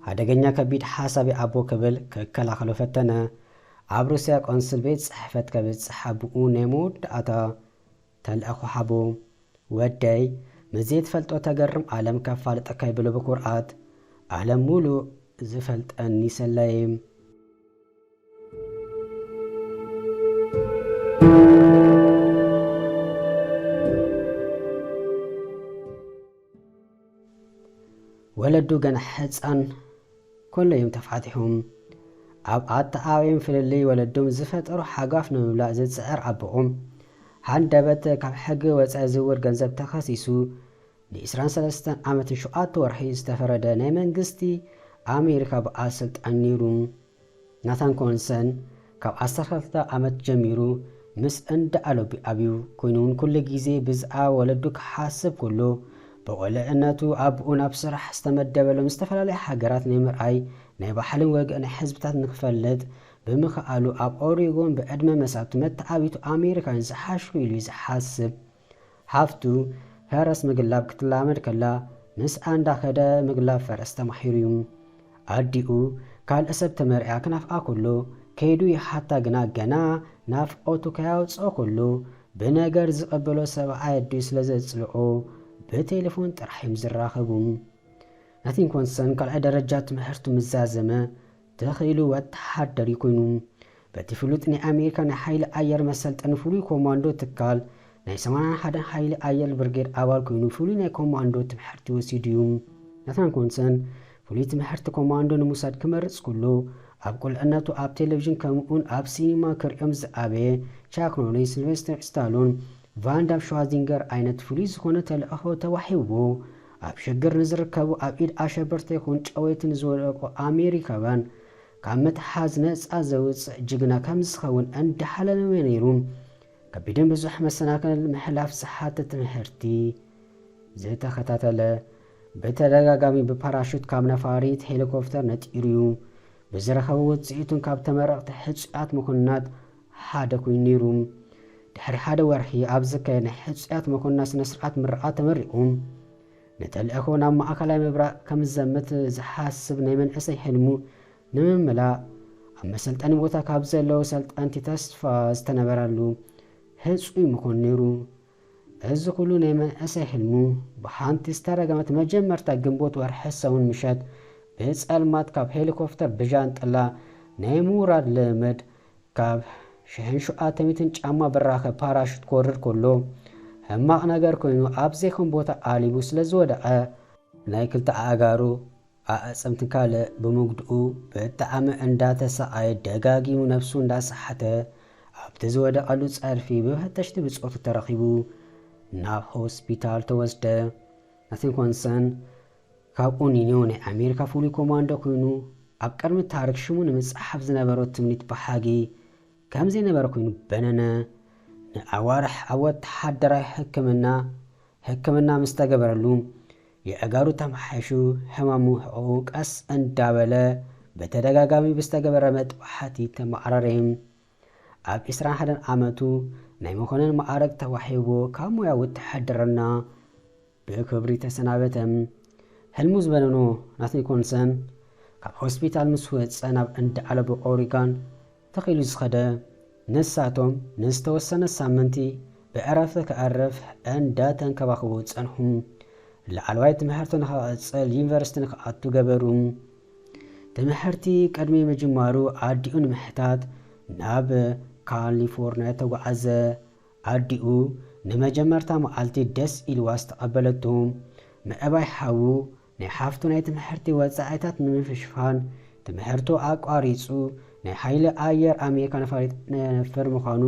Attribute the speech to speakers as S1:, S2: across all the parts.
S1: ሓደገኛ ከቢድ ሓሳቢ ኣቦ ክብል ክከላኸሎ ፈተነ። ኣብ ሩስያ ቆንስል ቤት ጽሕፈት ከብጽሕ ኣቦኡ ናይ መወዳእታ ተልእኾ ሓቦ ወደይ ምስ ዘይትፈልጦ ተገርም ኣለም ከፋልጠካ ይብሎ ብኩርዓት ኣለም ሙሉእ ዝፈልጠኒ ሰላይም ወለዱ ገና ሕፃን ኮሎ እዮም ተፋቲሑም። ኣብ ኣተኣባብዮም ፍልልይ ወለዶም ዝፈጠሩ ሓጓፍ ንምምላእ ዝጽዕር ኣቦኦም፣ ሃንደበት ካብ ሕጊ ወጻኢ ዝውር ገንዘብ ተኸሲሱ ንዒስራን ሰለስተን ዓመትን ሸውዓተ ወርሒ ዝተፈረደ ናይ መንግስቲ ኣሜሪካ በዓል ስልጣን ኔሩ ናታን ኮንሰን ካብ ዓሰርተ ክልተ ዓመት ጀሚሩ ምስ እንዳ ኣሎቢ ኣብዩ ኮይኑውን ኩሉ ግዜ ብዝኣ ወለዱ ክሓስብ ኩሉ ብቁልዕነቱ ኣቡኡ ናብ ስራሕ ዝተመደበሎም ዝተፈላለያ ሃገራት ናይ ምርኣይ ናይ ባሕልን ወግእን ናይ ሕዝብታት ንክፈልጥ ብምክኣሉ ኣብ ኦሪጎን ብዕድመ መሳቱ መተዓቢቱ ኣሜሪካን ዝሓሽኩ ኢሉዩ ዝሓስብ ሃፍቱ፣ ፈረስ ምግላብ ክትላመድ ከላ ምስኣ እንዳኸደ ምግላብ ፈረስ ተማሂሩ'ዩ። ኣዲኡ ካልእ ሰብ ተመርዕያ ክናፍቓ ከሎ ከይዱ ይሓታ ግና ገና ናፍቖቱ ከያውጽኦ ከሎ ብነገር ዝቐበሎ ሰብኣይ ኣዲኡ ስለ ዘጽልኦ ብቴለፎን ጥራሕ'ዮም ዝራኸቡ። ናቲንኮንሰን ካልኣይ ደረጃ ትምህርቱ ምስ ዛዘመ ተኺኢሉ ወተሃደር እዩ ኮይኑ። በቲ ፍሉጥ ናይ ኣሜሪካ ናይ ሓይሊ ኣየር መሰልጠኒ ፍሉይ ኮማንዶ ትካል ናይ ሰማንያን ሓደን ሓይሊ ኣየር ብርጌድ ኣባል ኮይኑ ፍሉይ ናይ ኮማንዶ ትምሕርቲ ወሲዱ እዩ። ናታን ኮንሰን ፍሉይ ትምሕርቲ ኮማንዶ ንምውሳድ ክመርጽ ኩሉ ኣብ ቁልዕነቱ ኣብ ቴለቪዥን ከምእውን ኣብ ሲኒማ ክርእዮም ዝኣበየ ቻክ ኖሪስ፣ ስልቨስተር ስታሎን፣ ቫን ዳም፣ ሽዋዚንገር ዓይነት ፍሉይ ዝኾነ ተልዕኾ ተዋሂብዎ ኣብ ሽግር ንዝርከቡ ኣብ ኢድ ኣሸበርቲ ይኹን ጨወይቲ ንዝወደቁ ኣሜሪካውያን ካብ ምትሓዝ ነጻ ዘውጽእ ጅግና ከምዝኸውን እንዳሓለመ ነይሩ። ከቢድን ብዙሕ መሰናክል ምሕላፍ ዝሓትት ትምሕርቲ ዝተኸታተለ ብተደጋጋሚ ብፓራሹት ካብ ነፋሪት ሄሊኮፍተር ነጢሩ'ዩ። ብዝረኸቦ ውጽኢቱን ካብ ተመረቕቲ ሕጹያት መኮንናት ሓደ ኮይኑ ነይሩ። ድሕሪ ሓደ ወርሒ ኣብ ዝካየድ ናይ ሕጹያት መኮንናት ስነ-ስርዓት ምርቓ ተመሪቑ። ንተልእኾ ናብ ማእከላይ ምብራቕ ከም ዝዘምት ዝሓስብ ናይ መንእሰይ ሕልሙ ንምምላእ ኣብ መሰልጠኒ ቦታ ካብ ዘለዉ ሰልጠንቲ ተስፋ ዝተነበረሉ ህጹይ መኮንን ነይሩ። እዚ ኩሉ ናይ መንእሰይ ሕልሙ ብሓንቲ ዝተረገመት መጀመርታ ግንቦት ወርሒ ሰሙን ምሸት ብጸልማት ካብ ሄሊኮፍተር ብጃንጥላ ናይ ምውራድ ልምምድ ካብ ሽሕን ሸውዓተ ሚእትን ጫማ ብራኸ ፓራሹት ክወርድ ከሎ ሕማቕ ነገር ኮይኑ ኣብ ዘይኮን ቦታ ኣሊቡ ስለዝወደቐ ናይ ክልተ ኣእጋሩ ኣዕጽምቲ ካልእ ብምጉድኡ ብጣዕሚ እንዳተሳቐየ ደጋጊሙ ነብሱ እንዳሰሓተ ኣብቲ ዝወደቐሉ ጸርፊ ብፈተሽቲ ብጾቱ ተረኺቡ ናብ ሆስፒታል ተወስደ። ናቲንኮንሰን ካብኡ ኒኒዮ ናይ ኣሜሪካ ፍሉይ ኮማንዶ ኩይኑ ኣብ ቅድሚ ታሪክ ሽሙ ንምጽሓፍ ዝነበሮ ትምኒት በሃጊ ከምዘይነበረ ኩይኑ በነነ። ንኣዋርሕ ኣብ ወተሃደራዊ ሕክምና ሕክምና ምስተገበረሉ የእጋሩ ተማሓይሹ ሕማሙ ሕቕኡ ቀስ እንዳበለ ብተደጋጋሚ ብዝተገበረ መጥባሕቲ ተማዕረረ። ኣብ ዕስራን ሓደን ዓመቱ ናይ መኮነን መኣርግ ተዋሂብዎ ካብ ሞያ ውትሕድርና ብክብሪ ተሰናበተ። ሕልሙ ዝበነኖ ናትኒኮንሰን ካብ ሆስፒታል ምስ ወጸ ናብ እንዳ ኣለቡ ኦሪጋን ትኽ ኢሉ ዝኸደ ንሳቶም ንዝተወሰነ ሳምንቲ ብዕረፍቲ ክዕርፍ እንዳተንከባኽቡ ጸንሑ ላዕለዋይ ትምሕርቱ ንኽቕጽል ዩኒቨርሲቲ ንኽኣቱ ገበሩ ትምሕርቲ ቅድሚ ምጅማሩ ኣዲኡ ንምሕታት ናብ ካሊፎርንያ ተጓዓዘ ኣዲኡ ንመጀመርታ መዓልቲ ደስ ኢልዋ ዝተቐበለቶ ምዕባይ ሓዉ ናይ ሓፍቱ ናይ ትምሕርቲ ወጻኢታት ንምፍሽፋን ትምሕርቱ ኣቋሪጹ ናይ ሓይሊ ኣየር ኣሜሪካ ነፋሪት ነነፍር ምዃኑ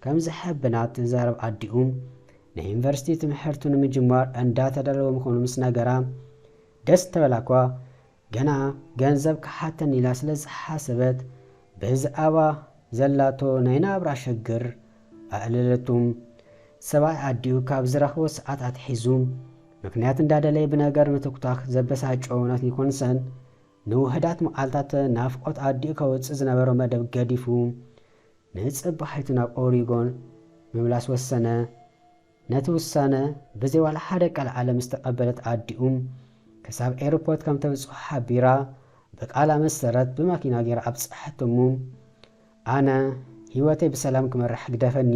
S1: ከም ዝሕብና ትዛረብ ኣዲኡ ናይ ዩኒቨርሲቲ ትምሕርቱ ንምጅማር እንዳ ተዳለወ ምዃኑ ምስ ነገራ ደስ ተበላኳ ገና ገንዘብ ክሓተኒ ኢላ ስለ ዝሓሰበት ብዝኣባ ዘላቶ ናይ ናብራ ሸግር ኣእለለቱ ሰብኣይ ኣዲኡ ካብ ዝረኽቦ ሰዓት ኣትሒዙ ምክንያት እንዳደለየ ብነገር ምትኩታክ ዘበሳጨዎ ዮናት ኒኮንሰን ንውሑዳት መዓልታት ናፍቆት ኣዲኡ ከውጽእ ዝነበሮ መደብ ገዲፉ ንጽባሒቱ ናብ ኦሪጎን ምምላስ ወሰነ። ነቲ ውሳነ ብዘይ ዋላ ሓደ ቀልዓለም ምስ ተቀበለት ኣዲኡ ክሳብ ኤርፖርት ከም ተብጽሖ ሓቢራ ብቃላ መሰረት ብማኪና ጌራ ኣብጸሐቶ እሞ ኣነ ሂወተይ ብሰላም ክመርሕ ግደፈኒ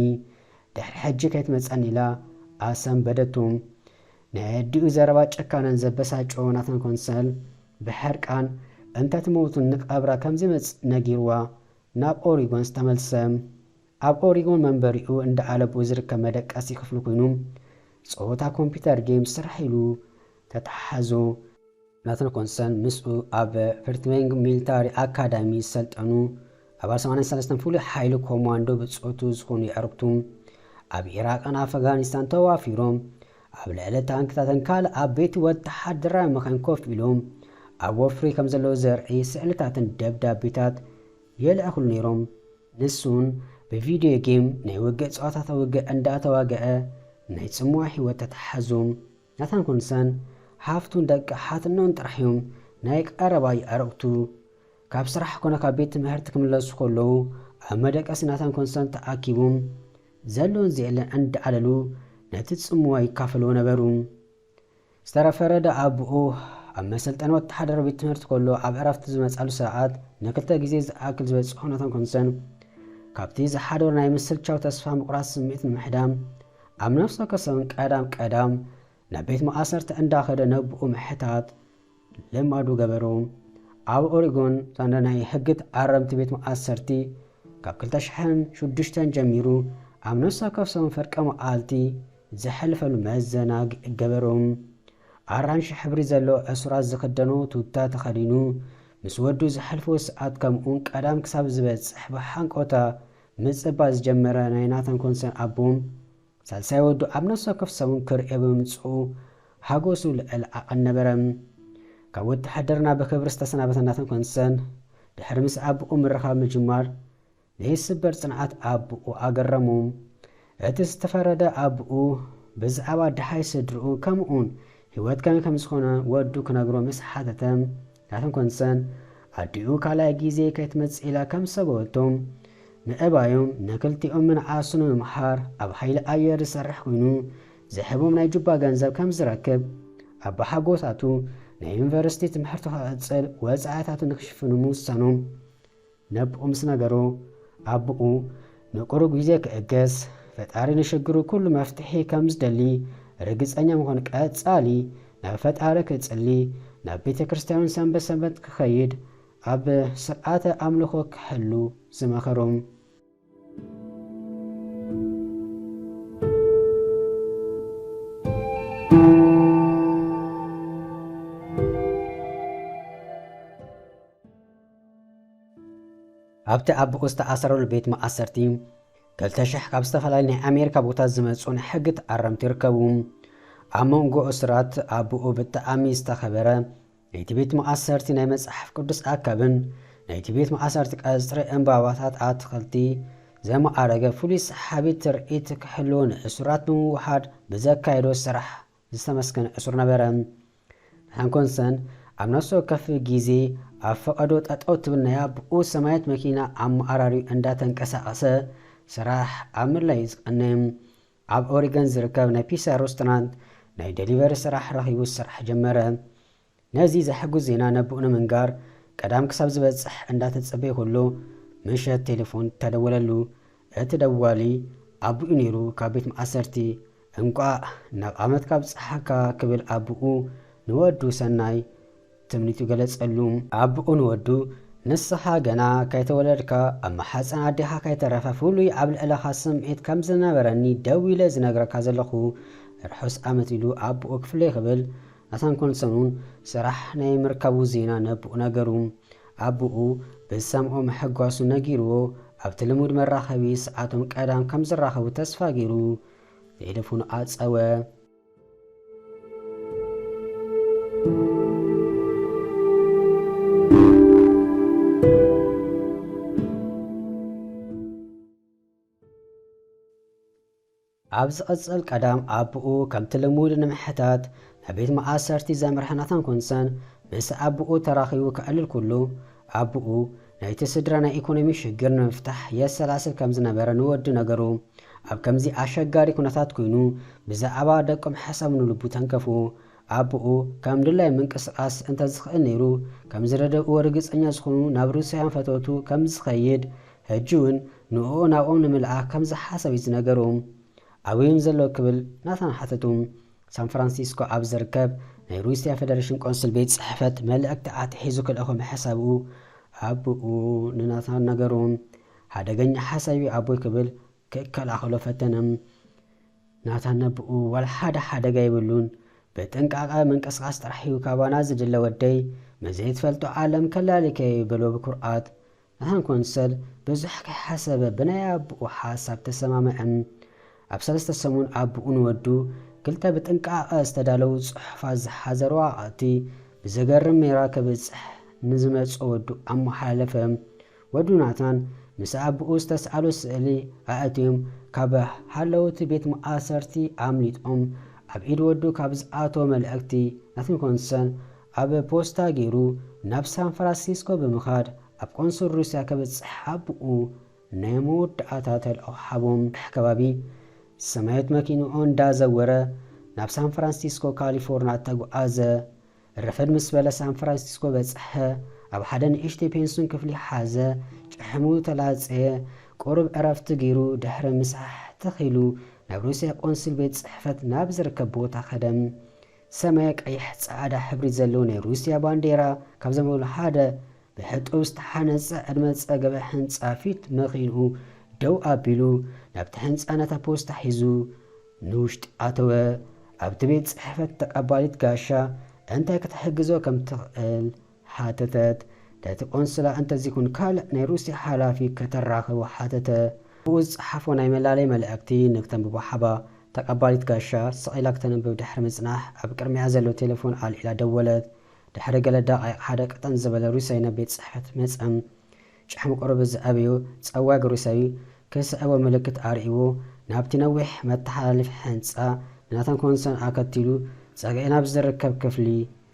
S1: ድሕሪ ሕጂ ከይትመጸኒ ኢላ ኣሰንበደቱ። ናይ ኣዲኡ ዘረባ ጨካነን ዘበሳጨዎ ናታን ኮንሰል ብሕርቃን እንተትመውት ንቀብራ ከምዘይመጽእ ነጊርዋ ናብ ኦሪጎን ዝተመልሰ። ኣብ ኦሪጎን መንበሪኡ እንዳ ኣለብኡ ዝርከብ መደቀሲ ክፍሉ ኩይኑ ጸወታ ኮምፒተር ጌም ስራሕ ኢሉ ተታሓሓዞ። ናታን ኮንሰን ምስኡ ኣብ ቨርትቬንግ ሚልታሪ ኣካዳሚ ዝሰልጠኑ ኣባል ሰማንያን ሰለስተን ፍሉይ ሓይሊ ኮማንዶ ብጾቱ ዝኾኑ የዕሩኽቱ ኣብ ኢራቅን ኣፈጋኒስታን ተዋፊሮም ኣብ ልዕሊ ታንክታትን ካልእ ዓበይቲ ወተሃደራዊ መኻይን ኮፍ ኢሎም ኣብ ወፍሪ ከም ዘለዉ ዘርኢ ስእልታትን ደብዳቤታት የልዕኽሉ ነይሮም። ንሱውን ብቪድዮ ጌም ናይ ውግእ ጸዋታታት ውግእ እንዳተዋግዐ ናይ ጽምዋ ህይወት ተታሓዙ። ናታን ኩንሰን ሓፍቱን ደቂ ሓትኖን ጥራሕ እዮም ናይ ቀረባ የዕርኽቱ። ካብ ስራሕ ኮነ ካብ ቤት ትምሕርቲ ክምለሱ ከለዉ ኣብ መደቀሲ ናታን ኩንሰን ተኣኪቦም ዘሎን ዘየለን እንዳኣለሉ ነቲ ጽምዋ ይካፈልዎ ነበሩ። ዝተረፈረ ደኣ ኣቡኡ ኣብ መሰልጠኒ ወተሓደራዊ ቤት ትምህርቲ ከሎ ኣብ ዕረፍቲ ዝመጻሉ ሰዓት ንክልተ ግዜ ዝኣክል ዝበጽሖ ናታን ኩንሰን ካብቲ ዝሓደሮ ናይ ምስልቻው ተስፋ ምቑራጽ ስምዒት ንምሕዳም ኣብ ነፍሰከሰን ቀዳም ቀዳም ናብ ቤት ማእሰርቲ እንዳኸደ ነብኡ ምሕታት ልማዱ ገበሩ። ኣብ ኦሪጎን እታ ናይ ሕጊ ተኣረምቲ ቤት ማእሰርቲ ካብ ክልተ ሽሕን ሽዱሽተን ጀሚሩ ኣብ ነፍሰከሰን ፍርቂ መዓልቲ ዘሕልፈሉ መዘናግዒ ገበሩ። ኣራንሺ ሕብሪ ዘለዎ እሱራት ዝኽደኖ ቱታ ተኸዲኑ ምስ ወዱ ዘሕልፎ ሰዓት ከምኡውን ቀዳም ክሳብ ዝበጽሕ ብሃንቀውታ ምጽባይ ዝጀመረ ናይ ናታን ኮንሰን ኣቦ፣ ሳልሳይ ወዱ ኣብ ነፍሲ ወከፍ ሰሙን ክርእዮ ብምምጽኡ ሓጎሱ ልዕል ዓቐን ነበረ። ካብ ውትሃድርና ብኽብሪ ዝተሰናበተ ናታን ኮንሰን፣ ድሕሪ ምስ ኣቦኡ ምርኻብ ምጅማር፣ ዘይስበር ጽንዓት ኣቦኡ ኣገረሙ። እቲ ዝተፈረደ ኣቡኡ ብዛዕባ ደሃይ ስድርኡ ከምኡውን ህይወት ከመይ ከም ዝኾነ ወዱ ክነግሮ ምስ ሓተተ ናተን ኮንሰን ኣዲኡ ካልኣይ ግዜ ከይትመጽእ ኢላ ከም ዝሰገወቶ ምእባዩ ንክልቲኦም ምንዓሱ ንምምሃር ኣብ ሃይሊ ኣየር ዝሰርሕ ኮይኑ ዝህቦም ናይ ጁባ ገንዘብ ከም ዝረክብ ኣባሓጎታቱ ናይ ዩኒቨርሲቲ ትምህርቱ ክቅጽል ወጻኢታቱ ንክሽፍኑ ምውሳኖም ነብኡ ምስ ነገሩ ኣቡኡ ንቁሩብ ግዜ ክእገስ ፈጣሪ ንሽግሩ ኩሉ መፍትሒ ከም ዝደሊ ርግጸኛ ምኮን ቀጻሊ ናብ ፈጣሪ ክጽሊ ናብ ቤተክርስትያውን ሰንበት ሰንበት ክከይድ ኣብ ስርዓተ ኣምልኮ ክሕሉ ዝመከሩም ኣብቲ ኣቦኡ ዝተኣሰረሉ ቤት ማኣሰርቲ ክልተ ሽሕ ካብ ዝተፈላለዩ ናይ ኣሜሪካ ቦታት ዝመጹ ናይ ሕጊ ተኣረምቲ ይርከቡ። ኣብ መንጎ እሱራት ኣቦኡ ብጣዕሚ ዝተኸበረ ናይቲ ቤት ማኣሰርቲ ናይ መጽሓፍ ቅዱስ ኣካብን ናይቲ ቤት ማኣሰርቲ ቀጽሪ ዕምባባታት ኣትኽልቲ ዘማኣረገ ፍሉይ ሰሓቢ ትርኢት ክሕልዎ ንእሱራት ብምውሃድ ብዘካየዶ ስራሕ ዝተመስገነ ዕሱር ነበረ። ንሓን ኮንሰን ኣብ ነፍሲ ወከፍ ጊዜ ኣብ ፈቐዶ ጠጠው ትብል ናይ ኣቡኡ ሰማያዊት መኪና ኣብ መኣራሪኡ እንዳ ተንቀሳቐሰ ስራሕ ኣብ ምድላይ'ዩ ዝቐነ። ኣብ ኦሪገን ዝርከብ ናይ ፒሳ ሮስቶራንት ናይ ደሊቨሪ ስራሕ ረኺቡ ስራሕ ጀመረ። ነዚ ዘሐጉስ ዜና ነቡኡ ንምንጋር ቀዳም ክሳብ ዝበጽሕ እንዳተጸበየ ከሎ ምሸት ቴለፎን ተደወለሉ። እቲ ደዋሊ ኣቡኡ ኔሩ ካብ ቤት ማኣሰርቲ። እንቋእ ናብ ዓመትካ ኣብጽሓካ ክብል ኣቡኡ ንወዱ ሰናይ ትምኒቱ ገለጸሉ። ኣቡኡ ንወዱ ንስኻ ገና ከይተወለድካ ኣብ ማሕጸን ኣዴኻ ከይተረፈ ፍሉይ ኣብ ልዕለኻ ስምዒት ከም ዝነበረኒ ደዊለ ዝነግረካ ዘለኹ። ርሑስ ዓመት ኢሉ ኣቡኡ ክፍለይ ክብል ናታንኮን ሰኑን ስራሕ ናይ ምርካቡ ዜና ነቡኡ ነገሩ። ኣቡኡ ብዝሰምዖ ምሕጓሱ ነጊሩዎ ኣብቲ ልሙድ መራኸቢ ሰዓቶም ቀዳም ከም ዝራኸቡ ተስፋ ገይሩ ቴለፎኑ ኣጸወ። ኣብ ዝቕጽል ቀዳም ኣቡኡ ከምቲ ልሙድ ንምሕታት ናብ ቤት ማኣሰርቲ ዘምርሐ ናታን ኩንሰን ምስ ኣቡኡ ተራኺቡ ከዕልል ኩሉ ኣቡኡ ናይቲ ስድራ ናይ ኢኮኖሚ ሽግር ንምፍታሕ የሰላስል ከም ዝነበረ ንወዱ ነገሩ ኣብ ከምዚ ኣሸጋሪ ኩነታት ኩይኑ ብዛዕባ ደቆም ሓሳቡ ንልቡ ተንከፉ ኣቡኡ ከም ድላዩ ምንቅስቃስ እንተ ዝኽእል ነይሩ ከም ዝረደኡዎ ርግጸኛ ዝኹኑ ናብ ሩስያውያን ፈተውቱ ከም ዝኸይድ ሕጂውን ንእኡ ናብኦም ንምልኣኽ ከም ዝሓሰቡ'ዩ ዝነገሩ። ኣበይ'ዮም ዘለዉ ክብል ናታን ሓተቱ። ሳንፍራንሲስኮ ኣብ ዝርከብ ናይ ሩስያ ፈደረሽን ቆንስል ቤት ጽሕፈት መልእኽቲ ኣትሒዙ ክልእኾ ምሕሳቡ ኣቦኡ ንናታን ነገሩ። ሓደገኛ ሓሳብ'ዩ ኣቦይ ክብል ክከላኸሎ ፈተነ። ናታን ነቦኡ ዋላ ሓደ ሓደጋ የብሉን፣ ብጥንቃቐ ምንቅስቓስ ጥራሕ'ዩ ካባና ዝድለ ወደይ፣ ምስ ዘይትፈልጦ ዓለም ከላልየካ'ዩ በሎ ብኩርዓት። ንሓን ኮንሰል ብዙሕ ከይሓሰበ ብናይ ኣቡኡ ሓሳብ ተሰማምዐን። ኣብ ሰለስተ ሰሙን ኣቡኡ ንወዱ ክልተ ብጥንቃቐ ዝተዳለዉ ጽሑፋት ዝሓዘ ረዋቐቕቲ ብዘገርም ሜራ ከብጽሕ ንዝመጽኦ ወዱ ኣመሓላለፈ። ወዱ ናትናን ምስ ኣቡኡ ዝተስኣሎ ስእሊ ኣእትዮም ካብ ሃለውቲ ቤት መኣሰርቲ ኣምሊጦም ኣብ ኢድ ወዱ ካብ ዝኣተወ መልእኽቲ ናትንኮንሰን ኣብ ፖስታ ገይሩ ናብ ሳንፍራሲስኮ ብምኻድ ኣብ ቆንስል ሩስያ ከብጽሕ ኣቡኡ ናይ መወዳኣታ ተልእኾ ሃቦም። ሕ ከባቢ ሰማዮት መኪንኡ እንዳ ዘወረ ናብ ሳንፍራንሲስኮ ካሊፎርና ተጉኣዘ። ረፈድ ምስ በለ ሳንፍራንሲስኮ በጽሐ። ኣብ ሓደ ንእሽተይ ፔንሱን ክፍሊ ሓዘ። ጭሕሙ ተላጸየ። ቁሩብ ዕረፍቲ ገይሩ ድሕሪ ምሳሕ ትኽ ኢሉ ናብ ሩስያ ቆንስል ቤት ጽሕፈት ናብ ዝርከብ ቦታ ከደ። ሰማያዊ ቀይሕ ጸዓዳ ሕብሪ ዘለዎ ናይ ሩስያ ባንዴራ ካብ ዘንበብሉ ሓደ ብሕጡብ ዝተሓነጸ ዕድመ ዝጸገበ ሕንጻ ፊት መኪንኡ ደው ኣቢሉ ናብቲ ሕንጻ ነታ ፖስታ ሒዙ ንውሽጢ ኣተወ። ኣብቲ ቤት ጽሕፈት ተቀባሊት ጋሻ እንታይ ክትሕግዞ ከም ትኽእል ሓተተት። ነቲ ቆንስላ እንተዚኹን ካልእ ናይ ሩስያ ሓላፊ ከተራኽቦ ሓተተ። ብኡ ዝጸሓፎ ናይ መላለይ መልዕክቲ ንክተንብቦ ሓባ። ተቀባሊት ጋሻ፣ ስቕ ኢላ ክተንብብ ድሕሪ ምጽናሕ፣ ኣብ ቅድሚኣ ዘሎ ቴለፎን ኣልዒላ ደወለት። ድሕሪ ገለ ደቓይቕ ሓደ ቀጠን ዝበለ ሩስያይ ናብ ቤት ጽሕፈት መጸ። ጭሕሙ ቁሩብ ዝዐበዩ ጸዋግ ሩስያይ፣ ክስዕቦ ምልክት ኣርእይዎ፣ ናብቲ ነዊሕ መተሓላልፊ ሕንጻ፣ ንናታን ኮንሶን ኣከቲሉ፣ ጸግዒ ናብ ዝርከብ ክፍሊ፣